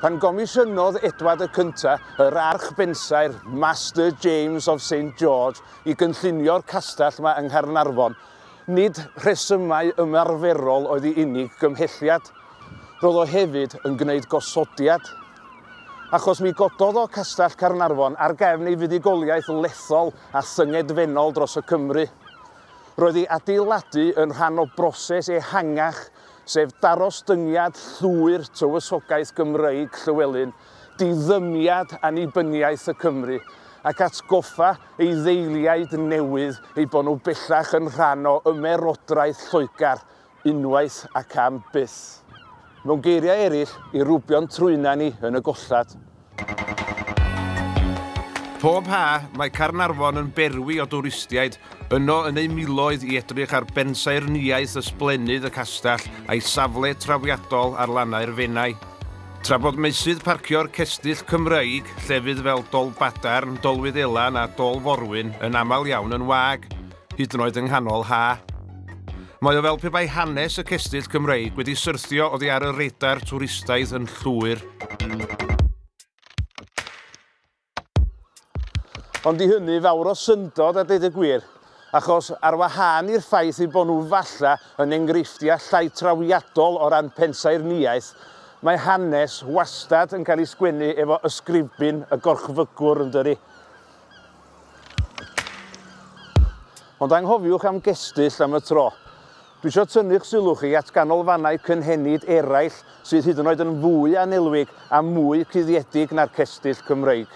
Pan gomisiynodd Edward y Cynta yr archbensaer Master James of St George i gynllunio'r castell yma yng Nghaernarfon, nid rhesymau ymarferol oedd i unig gymhelliad. Roedd o hefyd yn gwneud gosodiad. Achos mi gododd o Castell Caernarfon ar gefn ei fuddugoliaeth lethol a thyngedfennol dros y Cymru. Roedd ei adeiladu yn rhan o broses ehangach, sef darostyngiad llwyr tywysogaeth Gymreig Llywelyn, diddymiad annibyniaeth y Cymry, ac atgoffa ei ddeiliaid newydd eu bod nhw bellach yn rhan o Ymerodraeth Lloegr, Unwaith ac am byth. Mewn geiriau eraill, i rwbio'n trwyna ni yn y gollad. Pob ha, mae Caernarfon yn berwi o dwristiaid, yno yn eu miloedd i edrych ar bensaernïaeth ysblennydd y castell a'i safle trawiadol ar lannau'r Fenai. Tra bod meysydd parcio'r cestyll Cymreig, llefydd fel Dolbadarn, Dolwyddelan a Dol Forwyn yn aml iawn yn wag, hyd yn oed yng nghanol ha'. Mae o fel pe bai hanes y cestyll Cymreig wedi syrthio oddi ar y radar twristaidd yn llwyr. Ond i hynny fawr o syndod a dweud y gwir, achos ar wahân i'r ffaith eu bod nhw falle yn enghreifftiau llai trawiadol o ran pensaernïaeth, mae hanes wastad yn cael ei sgwennu efo ysgrifbyn y gorchfygwr, yn dydi? Ond anghofiwch am gestyll am y tro. Dwi isio tynnu'ch sylw chi at ganolfannau cynhenid eraill sydd hyd yn oed yn fwy annelwig a mwy cuddiedig na'r cestyll Cymreig.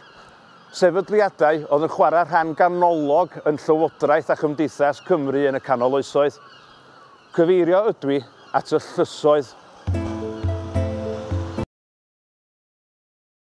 Sefydliadau oedd yn chwarae rhan ganolog yn llywodraeth a chymdeithas Cymru yn y canol oesoedd. Cyfeirio ydwi at y llysoedd.